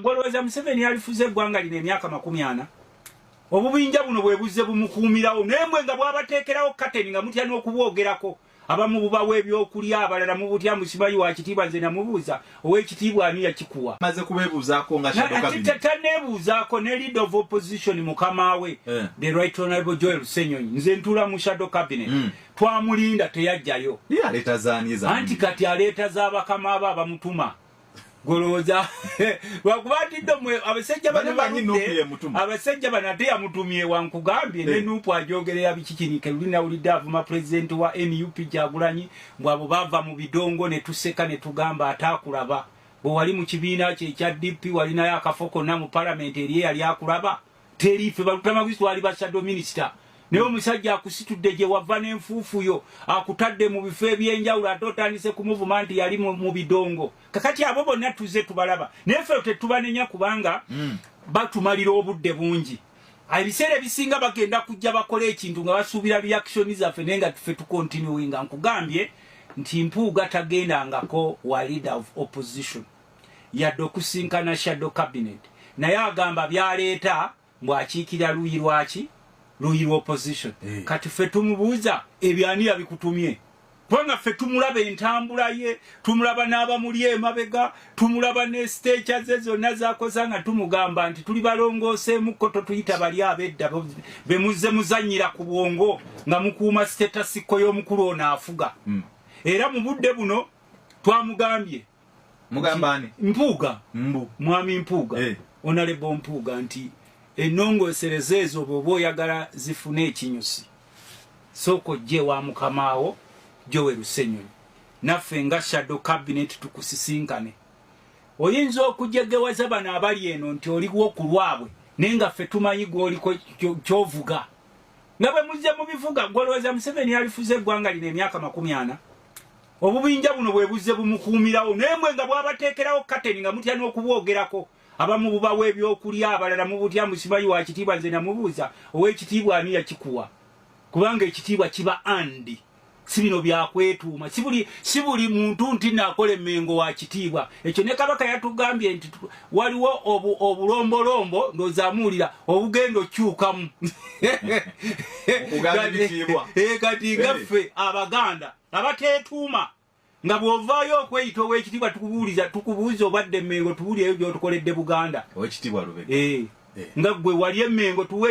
Gwolowooza Museveni yalifuze eggwanga lino emyaka makumi ana? Obubinja buno bwe buzze bumukuumirawo naye mwe nga bwabateekerawo kateni nga mutya n'okubwogerako abamu bubawa ebyokulya abalala mu butya musibayi wa kitiibwa nze namubuuza ow'ekitiibwa ani yakikuwa maze kubeebuuzaako nga taneebuuzaako ne lead of opposition mukama we eh. the right honorable joel senyonyi nze ntuula mu shadow cabinet hmm. twamulinda teyajjayo anti kati aleeta za bakama abo abamutuma goloza wakubatidde mwe abasajja bano baludde abasajja bano ate yamutumye wankugambye ne eh. nupu ajogerera bikikinike luli nawulidde avuma pulezidenti wa nup gyagulanyi mbu abo bava mu bidongo ne tuseka ne tugamba ataakulaba bwe wali mu kibiina kye ekya dp walinayo akafo konna mu palamenti eri eyali akulaba teri ffe balutamaguzi twali ba shadow minister naye omusajja akusitudde gye wava n'enfuufu yo akutadde mu bifo eby'enjawulo ate otandise kumuvuma nti yali mu bidongo kakati abo bonna tuze tubalaba naye ffe tetubanenya kubanga hmm. batumalira obudde bungi ebiseera ebisinga bagenda kujja bakola ekintu nga basuubira reaction zaffe naye nga tufe tukontinuinga nkugambye nti mpuuga tagendangako wa leader of opposition yadde okusinkana shadow cabinet naye agamba byaleeta mbu akiikira luyi lwaki luyi lwa opposition eh. kati fe tumubuuza ebyo ani yabikutumye kubanga fe tumulaba entambula ye tumulaba n'abamuli emabega tumulaba ne siteekya ze zonna zakoza nga tumugamba nti tuli balongooseemukko totuyita bali abedda be muzze muzannyira ku bwongo nga mukuuma sitetasikko y'omukulu ono afuga hmm. era mu budde buno twamugambye mugamba ani mpuuga mbu mwami mpuuga eh. onalebo mpuuga nti enongosereza ezo bwoba oyagala zifune ekinyusi sooka ojje wa mukamaawo jowe lusenyonyi naffe nga shadow cabinet tukusisinkane oyinza okujegewaza bano abali eno nti oliwo ku lwabwe naye nga ffe tumanyi gwoliko kyovuga nga bwe muzze mu bivuga gwolowooza museveni yalifuza eggwanga lino emyaka makumi ana obubinja buno bwe buzze bumukuumirawo naye mwe nga bwabateekerawo kateni nga mutya n'okubwogerako abamu bubawa ebyokulya abalala mu butya musimayi wa kitiibwa nze namubuuza ow'ekitiibwa ani yakikuwa kubanga ekitiibwa kiba andi si bino byakwetuuma si buli muntu nti naakola emmengo wa kitiibwa ekyo ne kabaka yatugambye nti waliwo obulombolombo ndozaamuwulira obugenda okyukamu kati eh, gaffe abaganda abateetuuma nga bw'ovaayo okweyita ow'ekitiibwa tukubuuliza tukubuuza obadde emmengo tuwulire ebyo by'otukoledde buganda ow'ekitiibwa lubega eh, eh. nga ggwe wali emmengo tuweeyo